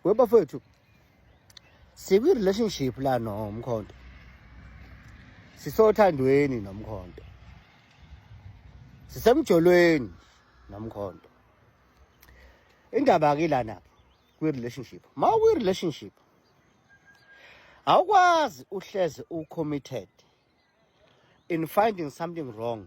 webafethu sikwi-relationship la nomkhonto sisothandweni nomkhonto sisemjolweni nomkhonto indaba-ke lana kwi-relationship ma ukwi-relationship awukwazi uhleze u-committed in finding something wrong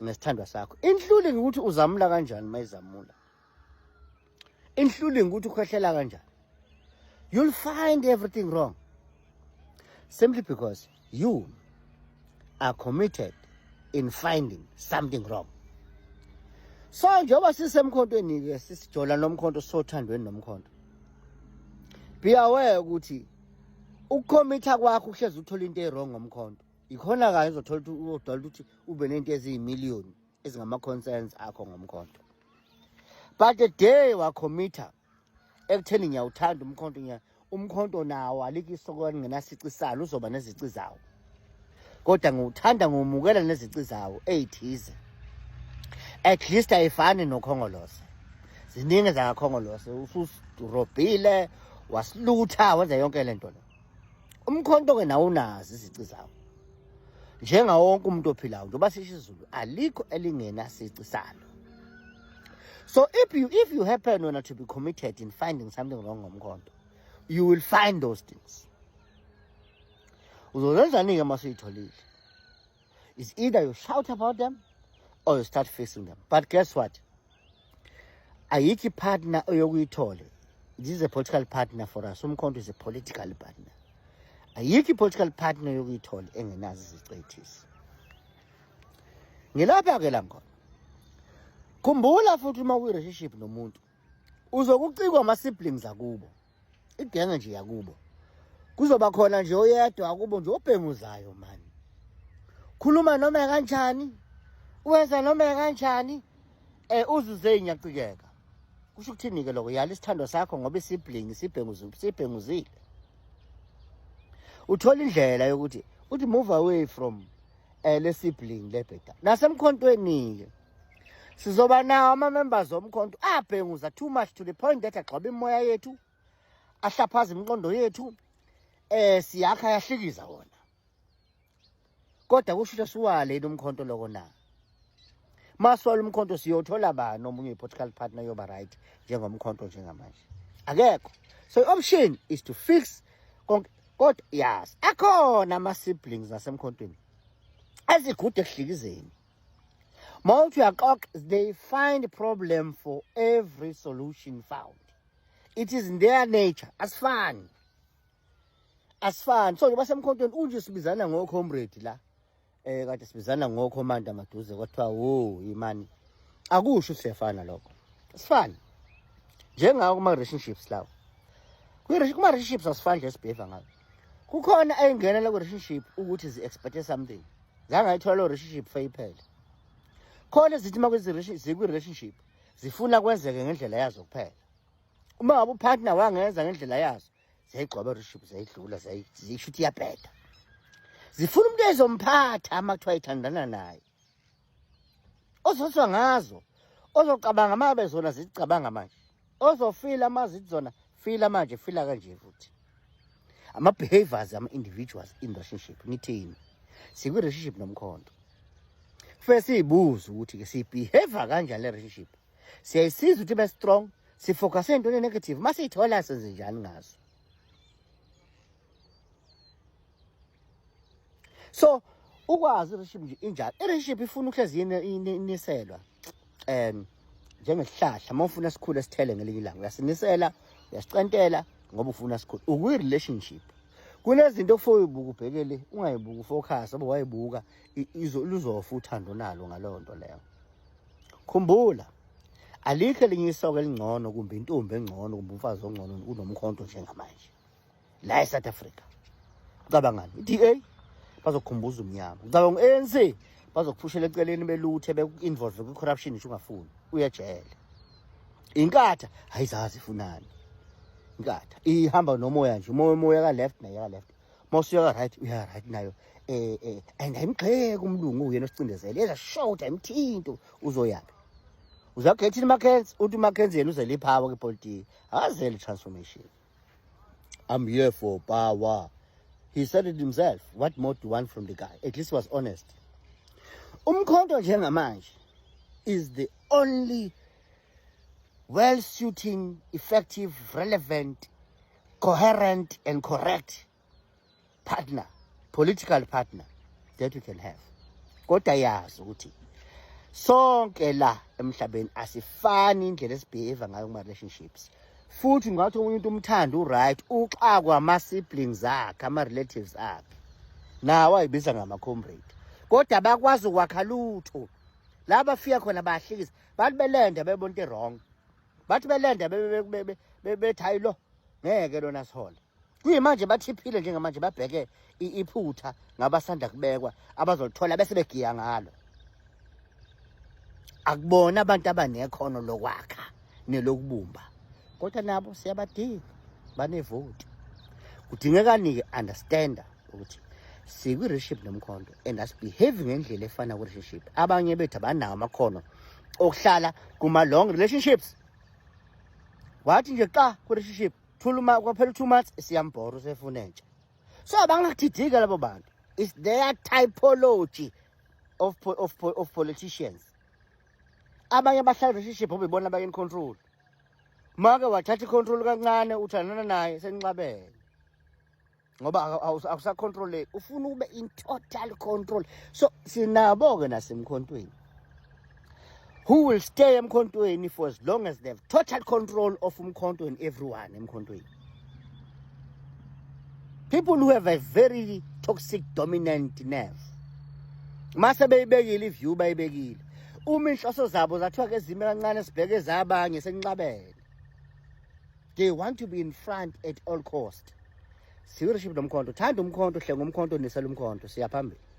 nesithandwa sakho including ukuthi uzamula kanjani mayizamula including ukuthi ukhwehlela kanjani you'll find everything wrong simply because you are committed in finding something wrong so njengoba sisemkhontweni-ke sisijola nomkhonto sisothandweni nomkhonto be aware ukuthi ukukhomitha kwakho uhlezi uthola into e-wrong ngomkhonto ikhona kanye uzothola ukuthi uzodala ukuthi ube nento eziyimiliyoni ezingama-concerns akho ngomkhonto but the day wakhomitha ekutheni ngiyawuthanda umkhonto ngiya umkhonto nawo alikho isoko elingenasici salo uzoba nezici zawo kodwa ngiwuthanda ngiwumukela nezici zawo eyithize at least ayifani nokhongolose ziningi zakakhongolose ususirobhile wasilutha wenza yonke le nto le umkhonto ke nawo unazi izici zawo njenga wonke umuntu ophilayo njengoba sisho izulu alikho elingena sici salo so if you if you happen wena to be committed in finding something wrong ngomkhonto you will find those things uzozenzani-ke uma suyitholile is either you shout about them or you start facing them but guess what ayikho ipartner oyokuyithole this is a political partner for us umkhonto is a political partner ayikho i-political partner yokuyithola engenazo izicethisi ngilapha-ke la ngona khumbula futhi uma kwi-relationship nomuntu uzokucikwa ama siblings akubo igenge nje yakubo kuzoba khona nje oyedwa akubo nje obhenguzayo mani khuluma noma kanjani wenza noma kanjani eh uzuze inyacikeka kusho ukuthini ke lokho yala isithando sakho ngoba isibling sibhenguzi sibhenguzile uthola indlela yokuthi uthi move away from eh le sibling lebheda nasemkhontweni ke sizoba nawo ama-members omkhonto abhenguza too much to the point that agxoba imoya yethu ahlaphaza imiqondo yethu eh siyakha yahlikiza wona kodwa kusho siwaleni umkhonto loko na maswala umkhonto siyothola bani omunye i-political partner yoba right njengomkhonto njengamanje akekho so i-option is to fix konke kodwa yes akhona ama-siblings nasemkhontweni azigude ekuhlikizeni Mouth your cock, they find problem for every solution found. It is in their nature. As fun. As fun. So, njengoba semkhontweni unje sibizana ngo comrade la. Eh kade sibizana ngo commander maduze kwathiwa wo imani. Akusho siyafana lokho. As fun. Njengawo kuma relationships lawo. Kuma relationships asifani nje sibheva ngawo. Kukhona ayingena la ku relationship ukuthi zi expect something. zange ayithola loo relationship feyiphele khona zithi uma zikwi-relationship zifuna kwenzeke ngendlela yazo kuphela uma ngabe upartner wangenza ngendlela yazo ziyayigcoba relationship ziyayidlula ziyisho ukuthi iyabheda zifuna umuntu ezomphatha ama kuthiwa ithandana naye ozoswa ngazo ozocabanga uma bezona zicabanga manje ozofila mazit zona fila manje fila kanje futhi ama-behaviors ama-individuals in relationship ngithini sikwi-relationship nomkhondo kufanele siyibuze ukuthi-ke siyibehavior kanjani le relationship siyayisiza ukuthi ibe strong sifocase entweni enegative uma siyithola senze njani ngazo so ukwazi ireship nje injalo ireship ifuna ukuhlezi iniselwa um njengesihlahla uma ufuna sikhule sithele ngelinye ilanga uyasinisela uyasicentela ngoba ufuna sikhule ukwi-relationship kunezinto okufoye ubuka ubhekele ungayibuki ufocus oba wayibuka luzofa uthando nalo ngaleyo nto leyo khumbula alikho elinye isoka elingcono kumbe intombi engcono kumbe umfazi ongcono kunomkhonto njengamanje la eSouth Africa ucabangani iDA bazokhumbuza umnyama ucabanga uANC bazokuphushela eceleni beluthe beku-involve kwi-corruption nje ungafuni uyejele inkatha hayizazi ifunani inkatha ihamba nomoya nje umoya umoya ka-left naye ka-left mawusuya ka-right uya-right nayo um um and ayimgxeki umlungu uyena osicindezele yeza short ayimthinto uzoyaphi uzagethini umakenzi uthi umakenzi yena uzele iphawa kwipolitiki akazele i-transformation i'm here for power he said it himself what more do you want from the guy at least was honest umkhonto njengamanje is the only well suiting effective relevant coherent and correct partner political partner that we can have kodwa yazi ukuthi sonke la emhlabeni asifani indlela esibehave ngayo kuma relationships futhi ngathi omunye umuntu umthanda uright uxakwa ama siblings akhe ama relatives akhe nawo ayibiza ngama comrade kodwa bakwazi ukwakha lutho laba fika khona bahlikisa bathi belende bebona into wrong bathi belende bethi hayi lo ngeke lona sihole kuyimanje bathiphile njengamanje babheke iphutha ngabasanda kubekwa abazolithola bese begiya ngalo akubona abantu abanekhono lokwakha nelokubumba kodwa nabo siyabadinga banevoti kudingekani-ke understander ukuthi sikwi-relationship nomkhondo and asibehave ngendlela efana kwi-relationship abanye bethu abanawo amakhono okuhlala kuma-long relationships wathi nje xa kwi-relationship kwaphela u-two months siyambhora usefuna entsha so abangathidika labo bantu is their typology of, of, of politicians abanye abahlala relationship obebona abanye in control make wathatha i-control kancane uthandana naye senixabene ngoba akusacontroleki ufuna ukube in total control so sinabo-ke nasemkhontweni who will stay emkhontweni for as long as they have total control of umkhonto and everyone emkhontweni people who have a very toxic dominant nerve mase beyibekile iview bayibekile uma inhloso zabo zathiwa ke zime kancane sibheke zabanye senqabele they want to be in front at all cost siwuriship nomkhonto thanda umkhonto hlenga umkhonto nisela umkhonto siyaphambili